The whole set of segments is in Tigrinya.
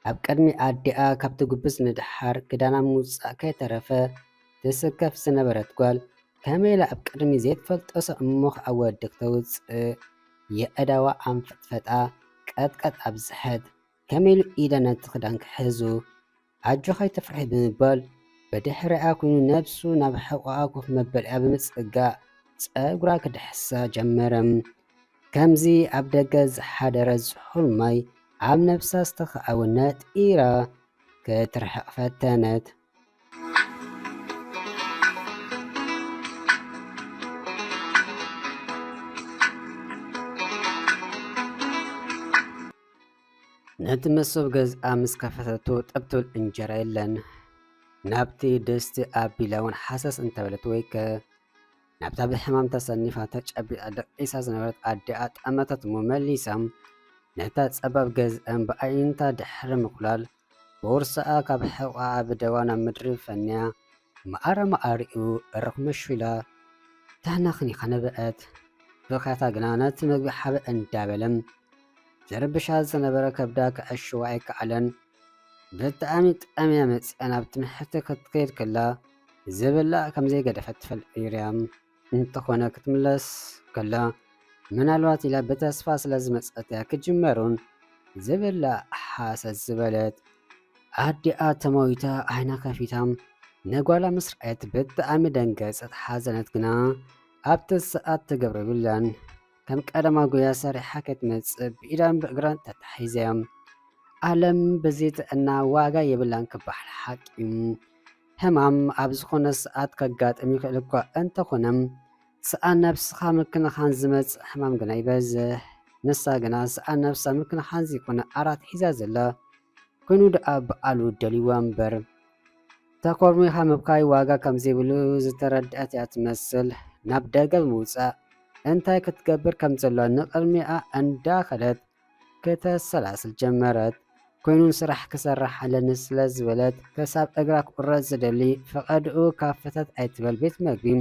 ኣብ ቅድሚ ኣዲኣ ካብ ትጉብዝ ንደሓር ክዳና ምውጻእ ከይተረፈ ትስከፍ ዝነበረት ጓል ከመይ ኢላ ኣብ ቅድሚ ዘይትፈልጦ ሰብ እሞ ከዓ ወዲ ክተውጽእ የእዳዋ ኣንፈጥፈጣ ቀጥቀጥ ኣብዝሐት። ከመይ ኢለ ነቲ ክዳን ክሕዙ ኣጆኻ ኣይትፍርሒ ብምባል ብድሕሪኣ ኮይኑ ነብሱ ናብ ሕቖኣ ኮፍ መበሊኣ ብምጽጋእ ጸጉራ ክድሕሳ ጀመረ። ከምዚ ኣብ ደገ ዝሓደረ ዝሑል ማይ ኣብ ነብሳ ዝተኻዕወ ነጢራ ክትርሕቕ ፈተነት። ነቲ መሶብ ገዝኣ ምስ ከፈተቶ ጠብ ትብል እንጀራ የለን። ናብቲ ድስቲ ኣቢላ እውን ሓሰስ እንተበለት ወይ ከ ናብታ ብሕማም ተሰኒፋ ተጨቢጣ ደቂሳ ዝነበረት ኣዲኣ ጠመተት እሞ መሊሳ ነታ ጸባብ ገዝኣን ብኣዒንታ ድሕሪ ምኹላል ቦርስኣ ካብ ሕቖኣ ብደዋ ናብ ምድሪ ፈንያ መኣረ መኣሪኡ በረኹ መሽዊላ ተህነኽኒኻ ነበዐት። ብኽያታ ግና ነቲ መግቢ ሓበ እንዳበለ ዝርብሻ ዝነበረ ከብዳ ከዐሽዎ ኣይከኣለን። ብጣዕሚ ጠምያ መጺኣ ናብ ትምሕርቲ ክትከይድ ከላ ዝብላዕ ከምዘይገደፈት ትፈልጥ ነይራ'ያ። እንተኾነ ክትምለስ ከላ ምናልባት ኢላ ብተስፋ ስለዝመጸትያ ክጅመሩን ዝብል ሓሰት ዝበለት ኣዲኣ ተመዊታ ዓይና ከፊታ ንጓላ ምስ ረኣየት ብጣዕሚ ደንገጸት ሓዘነት ግና ኣብቲ ሰዓት ትገብሮ የብላን ከም ቀደማ ጉያ ሰሪሓ ከይትመጽእ ብኢዳን ብእግራን ተታሒዘያ ኣለም ብዘይ ጥዕና ዋጋ የብላን ክበሃል ሓቂ እዩ ሕማም ኣብ ዝኾነ ሰዓት ከጋጥም ይኽእል እኳ እንተኾነ ሰኣን ነብስኻ ምክንኻን ዝመጽእ ሕማም ግና ይበዝሕ። ንሳ ግና ሰኣን ነብሳ ምክንኻን ዘይኮነ ኣራት ሒዛ ዘላ ኮይኑ ደኣ በዓሉ ደልዩዋ እምበር ተኮርሚኻ ምብካይ ዋጋ ከም ዘይብሉ ዝተረድኣት እያ ትመስል። ናብ ደገ ብምውጻእ እንታይ ክትገብር ከም ዘሎዋ ንቕድሚኣ እንዳኸደት ከተሰላስል ጀመረት። ኮይኑ ስራሕ ክሰርሕ ኣለኒ ስለ ዝበለት ከሳብ እግራ ክቁረጽ ዝደሊ ፈቐድኡ ካብ ፈተት ኣይትበል ቤት መግቢን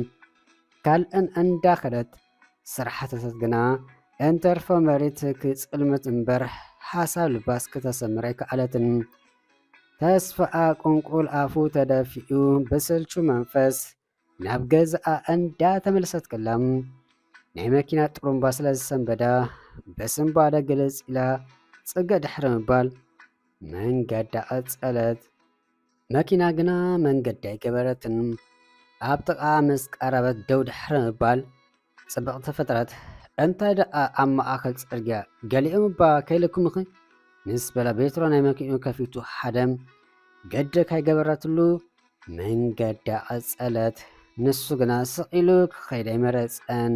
ካልእን እንዳ ከደት ስራሕ ተተት ግና እንተርፎ መሬት ክጽልምት እምበር ሓሳብ ልባስ ክተሰምር ኣይከኣለትን። ተስፋኣ ቁንቁል ኣፉ ተደፊኡ ብስልቹ መንፈስ ናብ ገዝኣ እንዳተመለሰት ከላ ናይ መኪና ጥሩምባ ስለ ዝሰንበዳ በስንባደ ግልጽ ኢላ ጽገ ድሕሪ ምባል መንገዳ ቀጸለት። መኪና ግና መንገዲ ኣይገበረትን። ኣብ ጥቓ ምስ ቀረበት ደው ድሕሪ ምባል ጽብቕቲ ፍጥረት እንታይ ደኣ ኣብ ማእከል ጽርግያ ገሊኦም እባ ከይለኩምኺ ምስ በላ ቤትሮ ናይ መኪኑ ከፊቱ ሓደም ገደ ካይገበረትሉ መንገዳ ቀጸለት። ንሱ ግና ስቕ ኢሉ ክኸይድ ኣይመረጸን።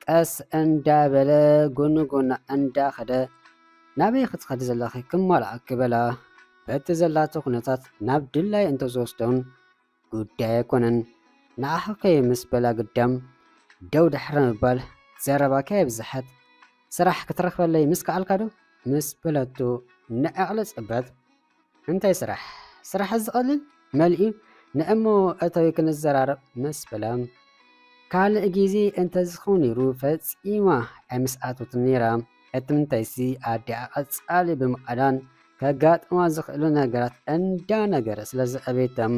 ቀስ እንዳበለ ጎኑ ጎና እንዳኸደ ናበይ ክትኸዲ ዘለኺ ክማልኣኪ በላ። በቲ ዘላቶ ኩነታት ናብ ድላይ እንተዝወስዶን ጉዳይ ኣይኮነን ንዓኺ ከይ ምስ በላ ግዳም ደው ድሕሪ ምባል ዘረባ ከየብዝሐት ስራሕ ክትረኽበለይ ምስ ከኣልካ ዶ ምስ በለቱ ንዕቕሊ ጽበት እንታይ ስራሕ ስራሕ ዝቐልል መልዩ ንእሞ እተዊ ክንዘራረብ ምስ በላ ካልእ ግዜ እንተዝኸውን ነይሩ ፈጺማ ኣይምስኣተቱን ነይራ። ሕትምተይሲ ኣዲኣ ቀጻሊ ብምቓዳን ከጋጥማ ዝኽእሉ ነገራት እንዳነገረ ስለ ዘዕበየቶም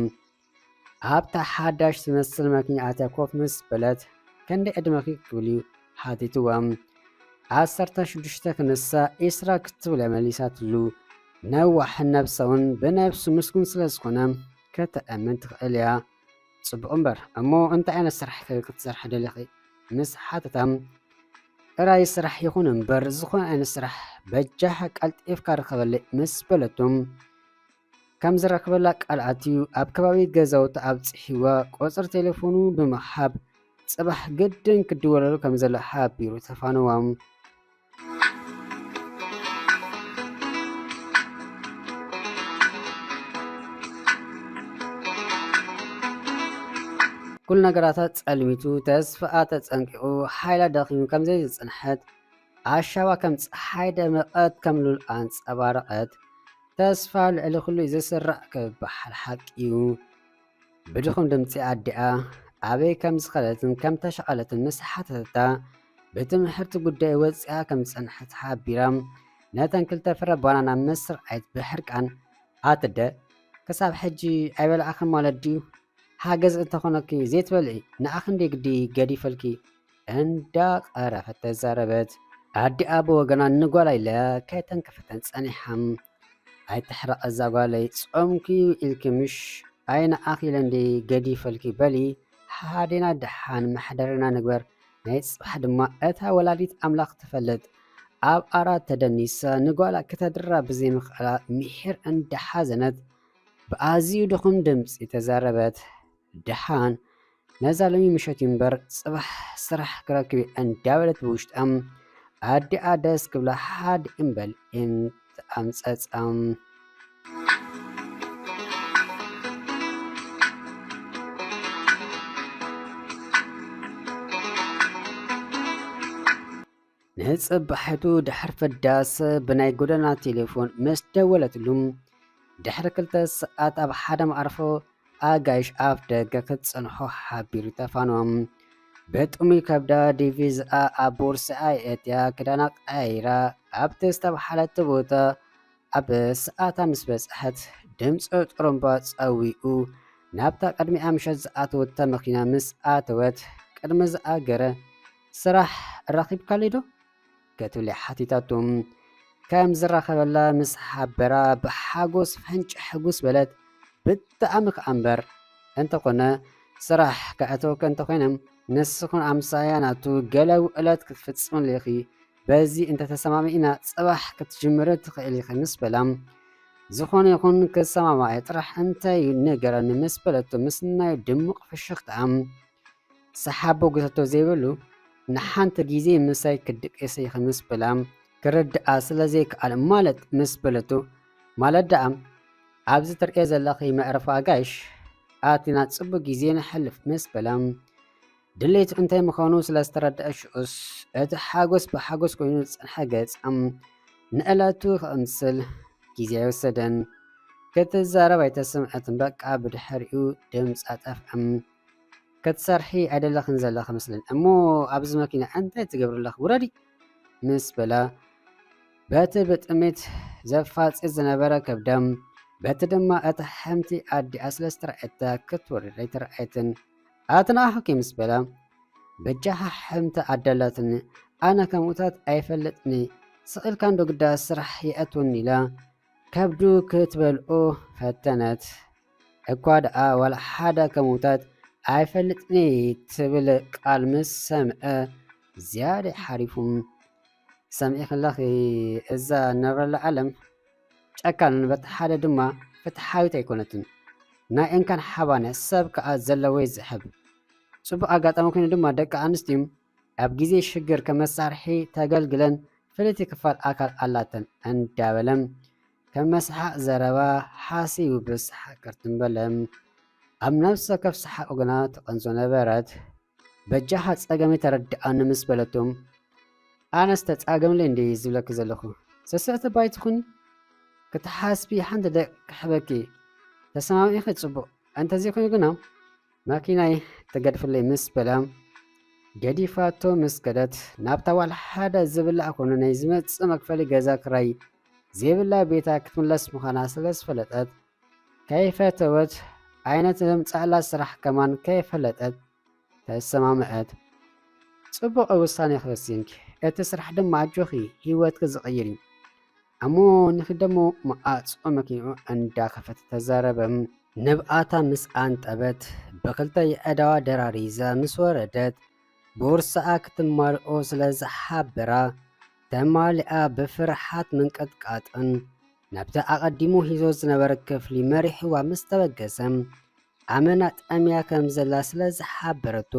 ኣብታ ሓዳሽ ትመስል መኪና ኣትያ ኮፍ ምስ በለት ክንደይ ዕድመኺ ክብልዩ ሓቲትዎም ዓሰርተ ሽዱሽተ ክንሳ ኢስራ ክትብለ መሊሳትሉ ነዋሕን ነብሰውን ብነብሱ ምስጉን ስለ ዝኾነ ከተእምን ትኽእል እያ ጽቡቕ እምበር እሞ እንታይ ዓይነት ስራሕ ክትሰርሒ ደሊኺ ምስ ሓተታ፣ እራይ ስራሕ ይኹን እምበር ዝኾነ ዓይነት ስራሕ በጃኻ ቀልጢፍካ ርኸበለይ ምስ በለቶ ከም ዝረክበላ ቃል ኣትዩ ኣብ ከባቢ ገዛውቲ ኣብጽሒዋ ቁጽሪ ቴሌፎኑ ብምሃብ ጽባሕ ግድን ክድወለሉ ከም ዘሎ ሓቢሩ ተፋነዋ። ኩሉ ነገራታ ጸልሚቱ፣ ተስፋኣ ተጸንቂቑ፣ ሓይላ ደኺሙ ከም ዘይዝጽንሐት፣ ኣሻባ ከም ጸሓይ ደመቐት፣ ከም ሉል ኣንጸባረቐት። ተስፋ ልዕሊ ኩሉ'ዩ ዝስራዕ ክበሃል ሓቂ'ዩ። ብድኹም ድምጺ ኣዲኣ ኣበይ ከም ዝኸደትን ከም ተሸቐለትን ምስ ሓተተታ ብትምህርቲ ጉዳይ ወፂኣ ከም ዝፀንሐት ሓቢራ ነተን ክልተ ፍረ ባናና ምስ ርኣየት ብሕርቃን ኣትደ ክሳብ ሕጂ ኣይበላዕኽን ማለት ድዩ ሓገዝ እንተኾነኪ ዘይትበልዒ ንኣኽንደይ ግዲ ገዲፈልኪ እንዳ ቀረፈት ተዛረበት ኣዲኣ ብወገና ንጓላ ኢለ ከይተንከፈተን ጸኒሓም ኣይትሕረቂ እዛ ጓለይ ጾምኪ ዩ ኢልኪ ምሽ ኣይ ንዓኺ ኢለ እንድየ ገዲፈልኪ በሊ ሓሓዴና ደሓን መሕደሪና ንግበር ናይ ጽባሕ ድማ እታ ወላዲት ኣምላኽ ትፈልጥ ኣብ ኣራት ተደኒሳ ንጓላ ክተድራ ብዘይምኽኣላ ምሒር እንዳሓዘነት ብኣዝዩ ድኹም ድምጺ ተዛረበት ደሓን ነዛ ሎሚ ምሸት እዩ እምበር ጽባሕ ስራሕ ክረክብ እየ እንዳበለት ብውሽጣ ኣዲኣ ደስ ክብላ ሓድ እምበል ኣምጸጻም ንጽባሒቱ ድሕሪ ፍዳስ ብናይ ጎደና ቴሌፎን ምስ ደወለትሉ ድሕሪ ክልተ ሰዓት ኣብ ሓደ መዓርፎ ኣጋይሽ ኣፍ ደገ ክትጸንሖ ሓቢሩ ተፋኖ በጥሙይ ከብዳ ዲቪዝኣ ኣብ ቦርስኣ የእትያ ክዳና ቀያይራ ኣብቲ ዝተባሓለት ቦታ ኣብ ሰዓታ ምስ በጽሐት ድምፂ ጥሩምባ ጸዊኡ ናብታ ቅድሚኣ ምሸት ዝኣተወታ መኪና ምስ ኣተወት ቅድሚ ዝኣገረ ስራሕ ኣራኺብካለይዶ? ክትብል ሓቲታቶ። ከም ዝራኸበላ ምስ ሓበራ ብሓጎስ ፈንጭሕ ሕጉስ በለት። ብጣዕሚ ከኣ እምበር! እንተኾነ ስራሕ ከእተወኪ እንተኾይነ ንስኺን ኣምሳያ ናቱ ገለ ውዕለት ክትፍጽምሉ ኢኺ፣ በዚ እንተተሰማሚዕና ጽባሕ ክትጅምሪ ትኽእሊ ኢኺ ምስ በላ ዝኾነ ይኹን ክሰማማዕ ጥራሕ እንታይ ንገረኒ ምስ በለቶ ምስ ናይ ድሙቕ ፍሽኽታ ሰሓቦ ጉተቶ ዘይብሉ ንሓንቲ ግዜ ምሳይ ክድቅስ ኢኺ ምስ በላ ክርድኣ ስለ ዘይከኣል ማለት ምስ በለቶ ማለት ደኣ ኣብዚ ትርእየ ዘለኺ መዕረፊ ኣጋይሽ ኣቲና ጽቡቅ ግዜ ንሕልፍ ምስ በላ ድሌቱ እንታይ ምዃኑ ስለ ዝተረድኣሽኡስ እቲ ሓጎስ ብሓጎስ ኮይኑ ዝጸንሐ ገጻም ንዕለቱ ክቕምስል ግዜ ኣይወሰደን። ክትዛረብ ኣይተሰምዐትን በቃ ብድሕሪኡ ድምጻ ጠፍዐም። ከትሰርሒ ኣይደለኽን ዘለኺ መስለኒ እሞ ኣብዚ መኪና እንታይ ትገብሪ ኣለኺ ውረዲ ምስ በላ በቲ ብጥሜት ዘፋፅፅ ዝነበረ ከብዳም በቲ ድማ እታ ሓምቲ ኣዲኣ ስለ ዝተረኣየታ ክትወርድ ኣይተረኣየትን ኣትንኣኹኪ ምስ በላ በጃኻ ሓምቲ ኣዳላትኒ ኣነ ከምኡታት ኣይፈልጥኒ ስቕኢልካ እንዶ ግዳ ስራሕ የእትውኒ ኢላ ከብዱ ክትበልኦ ፈተነት እኳ ደኣ ዋላ ሓደ ከምውታት ኣይፈልጥን'የ ትብል ቃል ምስ ሰምዐ ዝያዳ'ዩ ሓሪፉ። ሰሚዕክለኺ እዛ ንነብረላ ዓለም ጨካንን በቲ ሓደ ድማ ፍትሓዊት ኣይኮነትን። ናይ እንካን ሓባነ ሰብ ከኣ ዘለዎ'ዩ ዝሕብ። ጽቡቕ ኣጋጣሚ ኮይኑ ድማ ደቂ ኣንስትዩ ኣብ ግዜ ሽግር ከም መሳርሒ ተገልግለን ፍልይቲ ክፋል ኣካል ኣላተን እንዳበለ ከም መስሓቕ ዘረባ ሓሲቡ ብሰሓቕ ቅርትም በለ። ኣብ ነፍሲ ወከፍ ሰሓቑ ግና ትቐንዞ ነበረት። በጃኻ ጸገመይ ተረድኣኒ ምስ በለቶ ኣነስ ተጻገምለይ እንድየ ዝብለኪ ዘለኹ ስስዕቲ ባይትኹኒ ክትሓስቢ ሓንቲ ደቂ ክሕበኪ ተሰማሚዕኺ ጽቡቕ እንተዘይኮይኑ ግና መኪናይ ተገድፍለይ ምስ በለ ገዲፋቶ ምስ ከደት ናብታ ዋላ ሓደ ዝብላዕ ኮነ ናይ ዝመጽእ መክፈሊ ገዛ ክራይ ዘይብላ ቤታ ክትምለስ ምዃና ስለ ዝፈለጠት ከይፈተወት ኣይነት ዘምጻእላ ስራሕ ከማን ከይፈለጠት ተሰማምዐት። ጽቡቕ ውሳኔ ክወሲንኪ፣ እቲ ስራሕ ድማ ኣጆኺ ህይወትኪ ዝቕይር እዩ። ኣሞ ንኺደሞ መዓጾ መኪንኡ እንዳኸፈተ ተዛረበ። ንብዓታ ምስ ኣንጠበት ብኽልተ የእዳዋ ደራሪዛ ምስ ወረደት ቦርሳኣ ክትማልኦ ስለ ዝሓበራ ተማሊኣ ብፍርሓት ምንቅጥቃጥን ናብቲ ኣቐዲሙ ሂዞ ዝነበረ ክፍሊ መሪሕዋ ምስ ተበገሰ ኣመና ጠምያ ከም ዘላ ስለ ዝሓበረቶ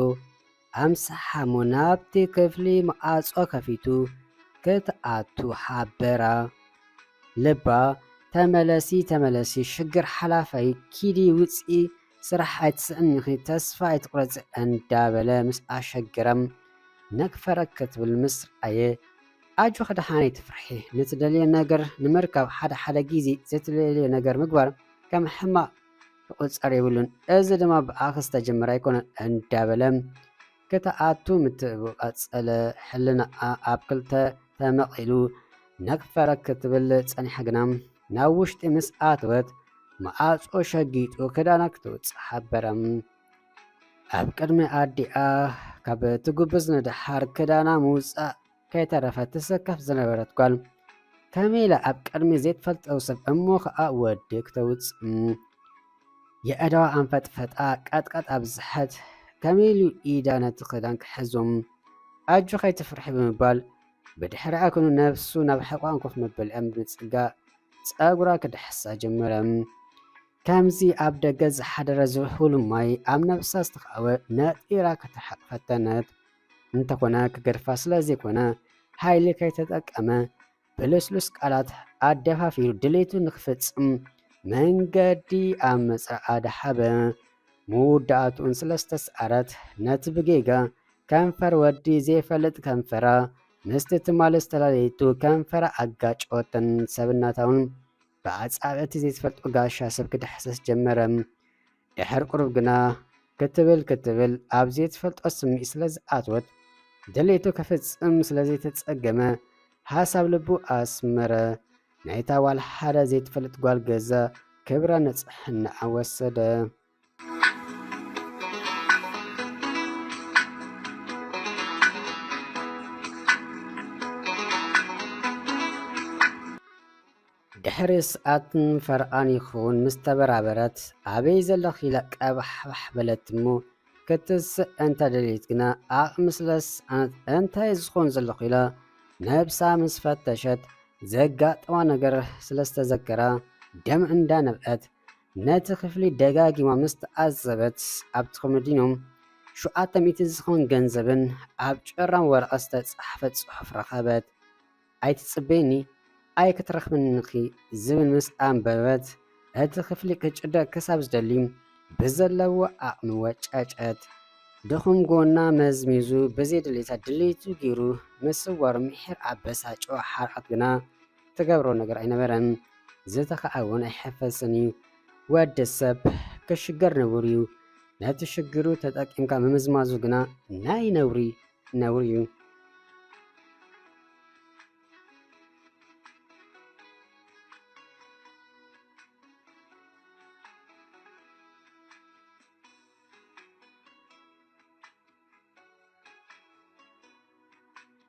ኣምስሓ'ሞ ናብቲ ክፍሊ መዓጾ ከፊቱ ክትኣቱ ሓበራ። ልባ ተመለሲ ተመለሲ ሽግር ሓላፍ ኣዩ ኪዲ ውጺ ስራሕ ኣይትስእኒኺ ተስፋ ኣይትቑረጺ እንዳበለ ምስ ኣሸገራ ነክፈረክ ክትብል ምስ ረኣየ ኣጆኺ ድሓን ኣይትፍርሒ ንትደልዮ ነገር ንምርካብ ሓደ ሓደ ግዜ ዘይትደልዮ ነገር ምግባር ከም ሕማቕ ክቑጸር የብሉን፣ እዚ ድማ ብኣኺ ዝተጀመረ ኣይኮነን እንዳበለ ክትኣቱ ምትእብኡ ቀጸለ። ሕልናኣ ኣብ ክልተ ተመቒሉ ነግፈረግ ክትብል ጸኒሓ ግና ናብ ውሽጢ ምስ ኣተወት መኣጹ ሸጊጡ ክዳና ክትውጽእ ሓበረ። ኣብ ቅድሚ ኣዲኣ ካብ ትጉብዝ ንደሓር ክዳና ምውጻእ ከይተረፈት ትሰከፍ ዝነበረት ጓል ከመይ ኢላ ኣብ ቅድሚ ዘይትፈልጠው ሰብ እሞ ከኣ ወዲ ክተውጽእ የእዳዋ ኣንፈጥፈጣ ቀጥቀጥ ኣብዝሐት ከመይ ኢሉ ኢዳ ነቲ ክዳን ክሕዞም ኣጆ ከይትፍርሒ ብምባል ብድሕሪኣ ኩኑ ነብሱ ናብ ሕቋን ኮፍ መበሊኣ ብምጽጋእ ጸጉራ ክድሕሳ ጀመረ። ከምዚ ኣብ ደገ ዝሓደረ ዝሑል ማይ ኣብ ነብሳ ዝተኸኣወ ነጢራ ከተሓቕ ፈተነት። እንተኾነ ክገድፋ ስለዘይኮነ ሓይሊ ከይተጠቀመ ብልስሉስ ቃላት ኣደፋፊሩ ድሌቱ ንክፍጽም መንገዲ ኣብ ምጽራኣ ደሓበ። መወዳእትኡን ስለዝተስዓረት ነቲ ብጌጋ ከንፈር ወዲ ዘይፈልጥ ከንፈራ ምስቲ ትማሊ ዝተላለየቱ ከንፈራ ኣጋጨወተን ሰብነታውን ብኣጻብዕ እቲ ዘይትፈልጦ ጋሻ ሰብ ክዳሕሰስ ጀመረ። ድሕር ቁሩብ ግና ክትብል ክትብል ኣብ ዘይትፈልጦ ስምዒት ስለ ዝኣትወት ድሌቱ ከፍጽም ስለ ዘይተጸገመ ሃሳብ ልቡ ኣስመረ። ናይታ ጓል ሓደ ዘይትፈልጥ ጓል ገዛ ክብራ ንጽሕናኣ ወሰደ። ድሕሪ ሰዓትን ፈርቓን ይኸውን ምስ ተበራበረት ኣበይ ዘለኺ ኢላ ቀባሕባሕ በለት እሞ ክትስእ እንተ ደልየት ግና ዓቕሚ ስለ ዝሰኣነት እንታይ ዝኾን ዘለኹ ኢላ ነብሳ ምስ ፈተሸት ዘጋጠማ ነገር ስለ ዝተዘከራ ደም እንዳነብዐት ነቲ ክፍሊ ደጋጊማ ምስ ተዓዘበት፣ ኣብቲ ኮመንዶሚንየም ሸውዓተ ሚእቲ ዝኸውን ገንዘብን ኣብ ጭራም ወረቐት ዝተጻሕፈ ጽሑፍን ረኸበት። ኣይትጽበይኒ፣ ኣይክትረኽብንን ኢኺ ዝብል ምስ ኣንበበት፣ እቲ ክፍሊ ክጭደር ክሳብ ዝደሊ ብዘለዎ ዓቕሚ ወጨጨት። ድኹም ጎና መዝሚዙ ብዘይድሌታ ድሌቱ ገይሩ ምስዋሩ ምሒር ኣበሳጨዎ። ሓርቃት ግና ትገብሮ ነገር ኣይነበረን ዝተኸኣ እውን ኣይሕፈጽን እዩ ወዲ ሰብ ክሽገር ንቡር እዩ ነቲ ሽግሩ ተጠቂምካ ምምዝማዙ ግና ናይ ነውሪ ነውሪ እዩ